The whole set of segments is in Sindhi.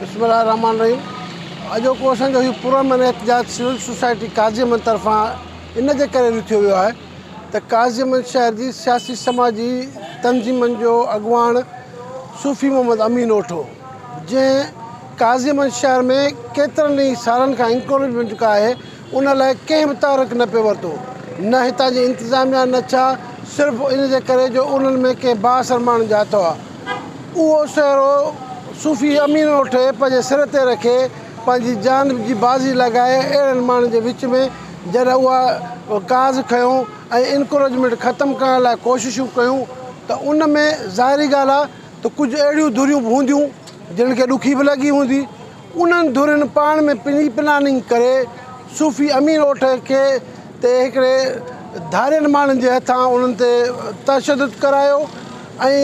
بسم الله الرحمٰن الرحيم اڄوڪو اسان جو هي پرامن احتجاج سول سوسائٽي قاضيمن طرفان ان جي ڪري رٿيو ويو آهي ته قاضيمن شهر جي سياسي سماجي تنظيمن جو اڳواڻ صوفي محمد امين اوٺو جنهن قاضيمن شهر ۾ ڪيترن ئي سالن کان انڪريجمينٽ ڪا آهي ان لاء ڪنهن به تحرڪ نه پيو ورتو، نه هتان جي انتظاميا نه ڇا صرف ان جي ڪري جو انهن ۾ ڪنهن بااثر ماڻهن جا هٿ هئا. اهو سهرو صوفي امين اٺي پنهنجي سر تي رکي پنهنجي جان جي بازي لڳائي اهڙن ماڻهن جي وچ ۾ جڏهن اها ڪاز کنيو ۽ انڪروچمينٽ ختم ڪرڻ لاء ڪوششون ڪيون ته ان ۾ ظاهري ڳالهه آ ته ڪجهه اهڙيون ڌريون به هونديون جنهن کي ڏکي به لڳي هوندي انهن ڌرين پاڻ ۾ پري پلاننگ ڪري صوفي امير اوٺ کي تي هڪڙي ڌارين ماڻهن جي هٿان انهن تي تشدد ڪرايو ۽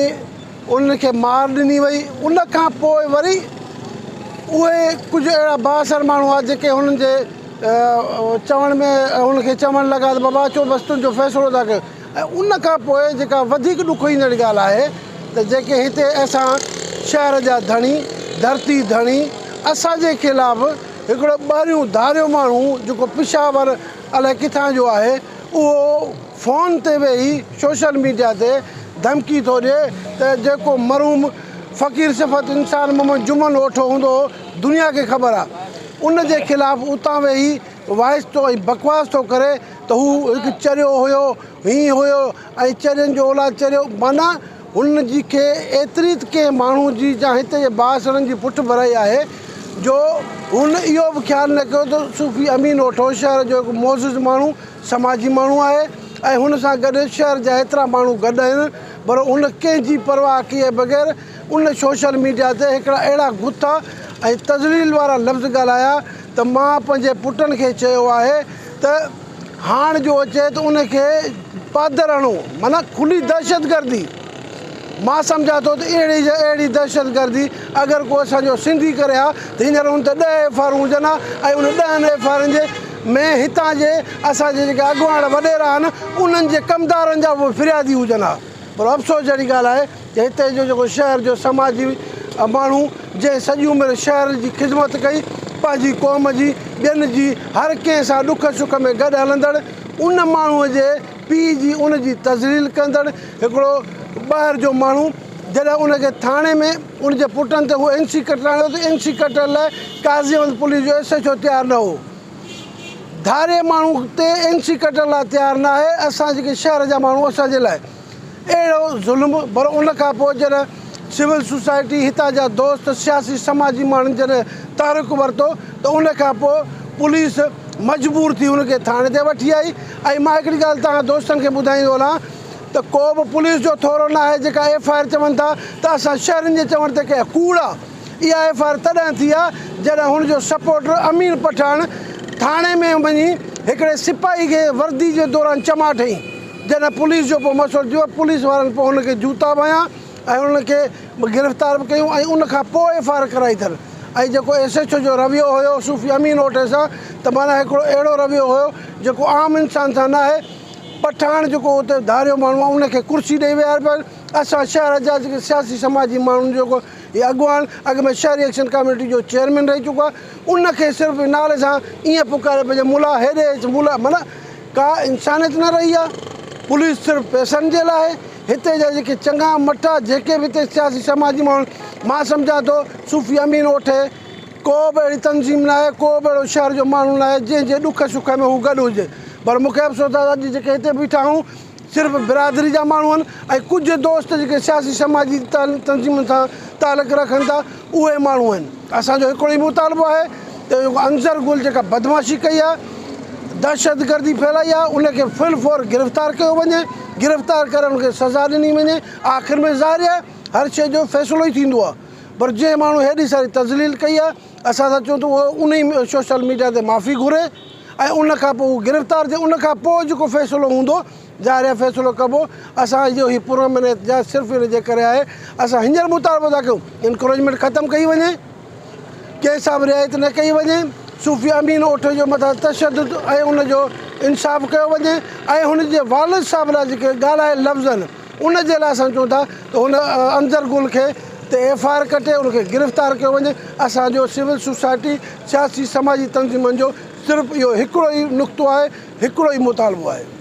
انهن کي مار ڏني وئي ان کان پوء وري اهي ڪجهه اهڙا بااثر ماڻهو هئا جيڪي هنن جي چوڻ ۾ هن کي چوڻ لڳا ته بابا اچو بس تنهنجو فيصلو ٿا ڪيون ۽ ان کان پوء جيڪا وڌيڪ ڏک ايندڙ ڳالهه آهي ته جيڪي هتي اسان شهر جا ڌڻي، ڌرتي ڌڻي، اسان جي خلاف هڪڙو ٻاهريون ڌاريو ماڻهو جيڪو پشاور الائي ڪٿان جو آهي اهو فون تي ويهي سوشل ميڊيا تي ڌمڪي ٿو ڏي ته جيڪو مرحوم فقير صفت انسان محمد جمن اوٺو هوندو هو دنيا کي خبر آهي ان جي خلاف اتان ويهي وائس ٿو ۽ بڪواس ٿو ڪري ته هو هڪ چريو هيو، هينء هيو ۽ چرين جو اولاد چريو، معنيٰ هن جي کي ايتري ته ڪنهن ماڻهو جي جا هت جي باسڻن جي پٺڀرائي آهي، جو هن اهو به خيال نه ڪيو ته صوفي امين اوٺو شهر جو هڪ معزز ماڻهو، سماجي ماڻهو آهي ۽ هن سان گڏ شهر جا ايترا ماڻهو گڏ آهن، پر هن ڪنهن جي پرواهه ڪيئي بغير، ان سوشل ميڊيا تي هڪڙا اهڙا غصا ۽ تذليل وارا لفظ ڳالهايا ته مان پنهنجي پٽن کي چيو آهي ته هاڻ جو اچي ته ان کي پادر هڻو معنيٰ کلي دهشتگردي مان سمجهان ٿو ته اهڙي جي اهڙي دهشتگردي اگر ڪو اسان جو سنڌي ڪري ها ته هينئر ان تي ڏهه ايف آرون هجن ها ۽ ان ڏهن ايف آرن جي ۾ هتان جي اسان جي جيڪي اڳواڻ وڏيرا آهن انهن جي ڪمدارن جا به فريادي هجن ها پر افسوس جهڙي ڳالهه آهي هتي جو جيڪو شهر جو سماجي ماڻهو جنهن سڄي عمر شهر جي خدمت ڪئي پنهنجي قوم جي ٻين جي هر ڪنهن سان ڏک سک ۾ گڏ هلندڙ ان ماڻهو جي پيء جي ان جي تذليل ڪندڙ هڪڙو ٻاهر جو ماڻهو جڏهن ان کي ٿاڻي ۾ ان جي پٽن تي هو اين سي ڪٽڻ آيو ته اين سي ڪٽڻ لاء قاضي احمد پوليس جو ايس ايڇ او تيار نه هو ڌاري ماڻهو تي اين سي ڪٽڻ لاء تيار نه آهي اسان جيڪي شهر جا ماڻهو اسان جي لاء اهڙو ظلم پر ان کان پوء جڏهن سول سوسائٽي هتان جا دوست سياسي سماجي ماڻهن جڏهن تحرڪ ورتو ته ان کان پوء پوليس مجبور ٿي هن کي ٿاڻي تي وٺي آئي ۽ مان هڪڙي ڳالهه توهان دوستن کي ٻڌائيندو هلان ته ڪوبه پوليس جو ٿورو ناهي جيڪا ايف آء آر چون ٿا ته اسان شهرين جي چوڻ تي ڪئي ڪوڙ آ اها ايف آء آر تڏهن ٿي آ جڏهن هن جو سپورٽر امين پٺاڻ ٿاڻي ۾ وڃي هڪڙي سپاهي کي وردي جي دوران چماٽ هنئي جڏهن پوليس جو پوء مشورو ٿيو، پوليس وارن پوء هن کي جوتا به هنيا ۽ انهن کي گرفتار به ڪيون ۽ ان کان پوء ايف آء آر ڪرائي اٿن ۽ جيڪو ايس ايڇ او جو رويو هيو صوفي امين اوٽي سان ته معنيٰ هڪڙو اهڙو رويو هيو جيڪو عام انسان سان ناهي پٺاڻ جيڪو اتي ڌاريو ماڻهو آهي ان کي ڪرسي ڏئي ويهاري پيا اسان شهر جا جيڪي سياسي سماجي ماڻهن جيڪو هي اڳواڻ اڳ ۾ شهري ايڪشن ڪاميٽي جو چيئرمين رهي چڪو آهي ان کي صرف نالي سان ائين پڪاري پئي جو ملا هيڏي اچ ملا معنيٰ ڪا انسانيت نه رهي آهي پوليس صرف پئسن جي لاء آهي هتي جا جيڪي چڱا مٺا جيڪي به هتي سياسي سماجي ماڻهو آهن مان سمجهان ٿو صوفي امين اوٺي ڪو به اهڙي تنظيم نه آهي ڪو به اهڙو شهر جو ماڻهو نه آهي جنهن جي ڏک سک ۾ هو گڏ هجي پر مون کي افسوس آهي اڄ جيڪي هتي بيٺا آهيون صرف برادري جا ماڻهو آهن ۽ ڪجهه دوست جيڪي سياسي سماجي تنظيمن سان تعلق رکن ٿا اهي ماڻهو آهن اسان جو هڪڙو ئي مطالبو آهي ته جيڪو انظر گل جيڪا بدمعاشي ڪئي آهي دهشت گردي ڦهلائي آهي ان کي في الفور گرفتار ڪيو وڃي گرفتار ڪري ان کي سزا ڏني وڃي آخر ۾ ظاهر آهي هر شئي جو فيصلو ئي ٿيندو آهي پر جنهن ماڻهو هيڏي ساري تذليل ڪئي آهي اسان ته چون ٿو اهو انهي سوشل ميڊيا تي معافي گهري. ۽ ان کان پوء هو گرفتار ٿيو ان کان پوء جيڪو فيصلو هوندو ظاهر آهي فيصلو ڪبو اسان جو هي پرامن احتجاج صرف ان جي ڪري آهي اسان هينئر مطالبو ٿا ڪيون انڪروچمينٽ ختم ڪئي وڃي ڪيس سان به رعايت نه ڪئي وڃي صوفي امين اوٺي جو مٿان تشدد ۽ ان جو انصاف ڪيو وڃي ۽ هن جي والد صاحب لاء جيڪي ڳالهائي لفظن ان جي لاء اسان چون ٿا ته هن انظر گل کي تي ايف آء آر ڪٽي ان کي گرفتار ڪيو وڃي، اسان جو سول سوسائٽي، سياسي سماجي تنظيمن جو صرف اهو هڪڙو ئي نقطو آهي، هڪڙو ئي مطالبو آهي.